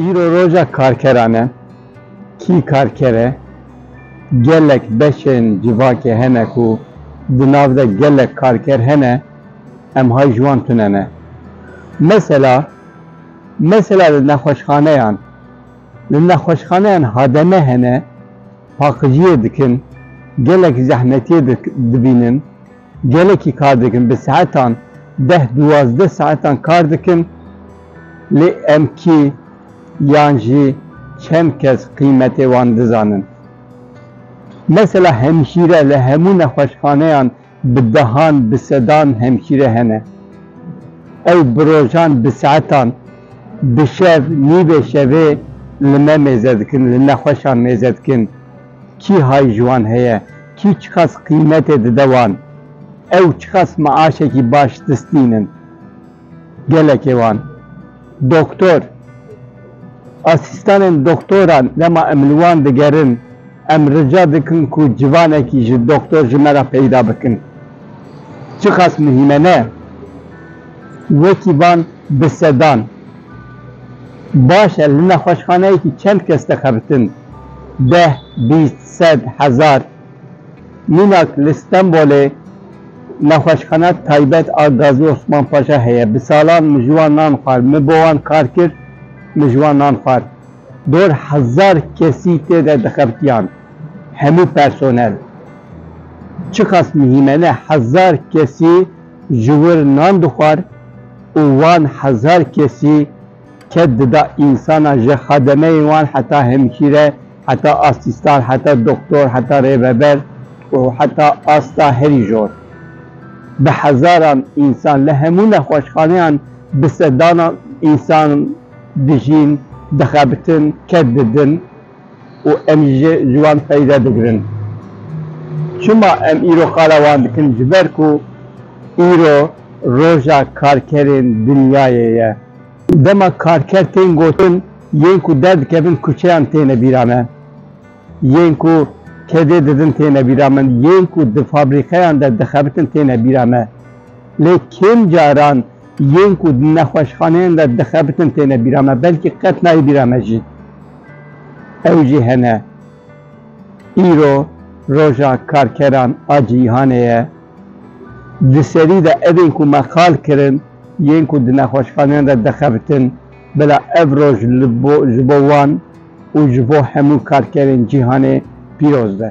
Îro roja karkeran e. Kî karker e? Gelek beşên civakê hene ku di nav de gelek karker hene em hay ji wan tune ne. Mesela mesela li nexweşxaneyan li nexweşxaneyan hademe hene paqijiyê dikin, gelek zehmetiyê dibînin, gelekî kar dikin, bi saetan deh duwazdeh saetan kar dikin lê em kî yan jî çend kes qîmetê wan dizanin. Mesela hemşîre li hemû nexweşxaneyan Bi dehan, bi sedan hemşîre hene. Ew bi rojan, bi saetan, bi şev, nîvê şevê li me mêze dikin, li nexweşan mêze dikin. Kî hay ji wan heye? Kî çiqas qîmetê dide wan? Ew çiqas meaşekî baş distînin? Gelekê wan doktor, asîstanên doktoran dema em li wan digerin em rica dikin ku civanekî ji doktor ji me re peyda bikin. Çiqas muhîm e ne? Wekî van bi sedan. Baş e li nexweşxaneyekî çend kes dixebitin? Deh, bîst, sed, hezar? Mînak li Stenbolê nexweşxana taybet a Gazî Osman Paşa heye. Bi salan min ji wan nan xwar. Min bo wan kar kir, min ji wan nan xwar. Dor hezar kesî tê de dixebitiyan. Hemû personel. Çiqas mihîme ne hezar kesî ji wir nan dixwar û wan hezar kesî ked dida însanan ji xedemeyên wan heta hemşîre, Heta asîstan, heta doktor, heta rêveber û heta asta herî jor. Bi hezaran însan li hemû nexweşxaneyan bi sedanan însan dijîn, dixebitin, ked didin û em jî ji wan feyde digirin. Çima em îro qala wan dikin? Ji ber ku îro roja karkerên dinyayê ye. Dema karker tên gotin yên ku derdikevin kuçeyan têne bîra me, yên ku kedê didin têne bîra min, yên ku di fabrîkeyan de dixebitin têne bîra me. Lê kêm caran yên ku di nexweşxaneyan de dixebitin têne bîra me, belkî qet nayê bîra me jî. Ew jî hene. Îro roja karkeran a cîhanê ye. Di serî de evên ku me qal kirin yên ku di nexweşxaneyan de dixebitin, bila ev roj ji bo wan û ji bo hemû karkerên cîhanê pîroz be.